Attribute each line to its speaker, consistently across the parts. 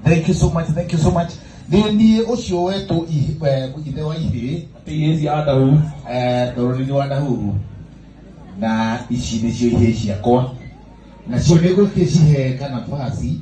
Speaker 1: Thank you so much, thank you so much. Nĩ niĩ ũcio wetwo ihi- eh, ithe wa ihĩĩ Atĩ ihĩĩ cia Adahu. eh, ndoro-inĩ wa Nahuru na ici nĩcio ihĩĩ ciakwa nacio nĩ gũkĩcihe kana basi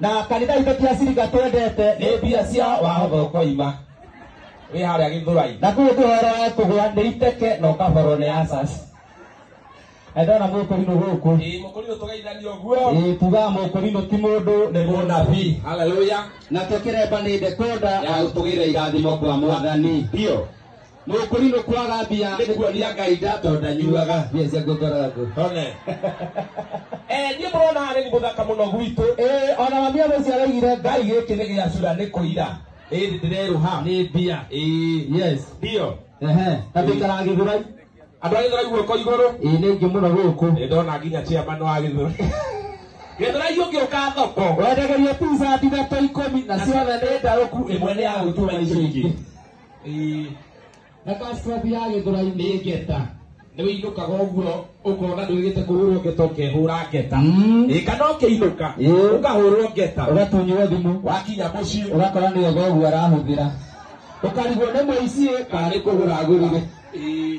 Speaker 1: na kanitha itũ ti acirika twendete nĩ mbia cia wahotho koima wĩ harĩa gĩthũrai na kũu kũhoro wa kũgũra nĩ iteke na ũkaborwo nĩ asas na ndona mũkũrinũ gũkũ ĩĩ mũkũrinũ tũgeithania ũguo ĩĩ tugaga mũkũrinũ ti mũndũ nĩ mũnabii haleluya nakĩo kĩremba nĩ ndekũnda ya gũtũgĩra irathimo kwa mwathani biũ Nukuri nukwaga mbia nĩ kuonia ngai ndatonda nyuaga mbia cia ngũthora ngũ one Eh, niĩ mũrona haha nĩ mũthaka mũno gwitũ Eh, ona mami amũciaraigire ngai gĩkĩ nĩ gĩacura nĩ kũira ĩndĩ ndĩrerũha nĩ mbia Ĩĩ. yes ndio ehe na ndĩikaraga gĩthurai andũ a gĩthũrai guoko igũrũ ĩĩ nĩ ingĩ mũno gũkũ nĩ ndona nginya chairman wa gĩthũrai gĩthũrai ũngĩũka thoko wendegeria pizza thinato ikũmi na ciothe nĩ ndarũku ĩmwe nĩ ya gũtua icio ingĩ Ĩĩ. na passport ya gĩthũrai nĩ ngeta nĩ wĩinũkaga ũguo ũkona ndwĩgĩte kũhũrwo ngeta ũkehũra ngeta Mm. ĩĩ kana ũkĩinũka Ĩĩ. ũkahũrwo ngeta ũgatunywo thimũ wakinya mũciĩ ũgakora nĩ oga ũguo arahũthĩra ũkarigwo nĩ mũici ĩ kana nĩ kũgũra agũrire Ĩĩ.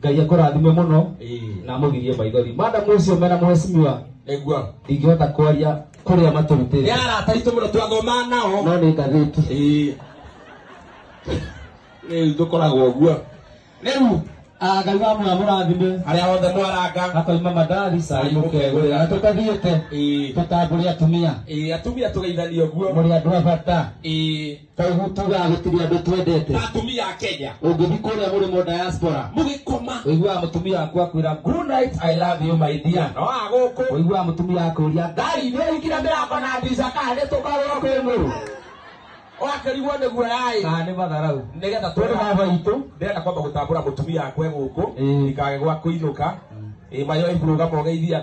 Speaker 1: ngai akũrathime mũno Ĩĩ. na amũgirie maithori madam ũcio mena mũhecimiwa Nĩguo. ndingĩhota kwaria kũrĩa Nĩ matũrutĩte arata aitũ mũno twathoma nao. no nĩ ngathĩti Ĩĩ. Rĩu tũkoragwo ũguo. Rĩu Ah, ngai wa mũra mũrathime arĩa othe mwaranga. akoima madari cai mũkegũrĩra tũtathiĩte Ĩĩ. tũtambũre atumia Ĩĩ, atumia tũgeithanie ũguo. mũrĩ andũ a bata Ĩĩ. kaĩ gũtuga gũtirĩ andũ twendete ta atumia a kenya ũngĩthiĩ kũrĩa mũrĩ mo diaspora mũgĩkoma ũiguaga mũtumia waku akwĩra good night i love you my dear no agũkũ ũiguaga mũtumia akũria ngari nĩ ũhingire mĩrango na ndirica kana nĩ tũkarũra kwĩ mũrũ wakĩrigwo nĩ guoyaĩ kana nĩ matharau nĩgetha tũrĩ tũrĩ baba itũ ndĩrenda kwamba gũtambũra mũtumia akwe gũkũ Ĩĩ. ndikage gwa kũinũka ĩ mayo ĩburũga mogeithia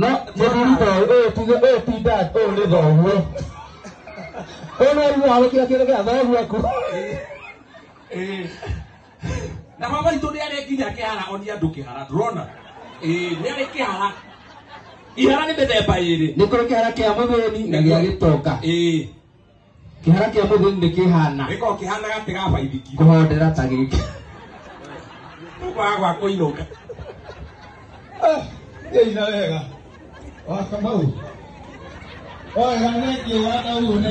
Speaker 1: no mũthuri ta ũyũ ũyũ tuge ũyũ ti dad ũyũ nĩ thoguo ũyũ nĩ arimũ wa gũkira kĩndũ gĩa thoguo aku Ĩĩ. na baba itå nä arä nginya kä hara onia andå kä hara ndårona nä arä kä hara ihara nä mä themba ä rä nĩ kũrĩ kĩhara kĩa mũthĩni na gĩa gĩtonga ä kĩhara kĩa mũthĩ nĩ kĩhana gĩkoragwo kĩhana gatĩ ga baithikiri kũhondera ta gĩkĩ tũkwaga gwa kũinũka ĩina wega wakamau wega nĩngĩ wanauo na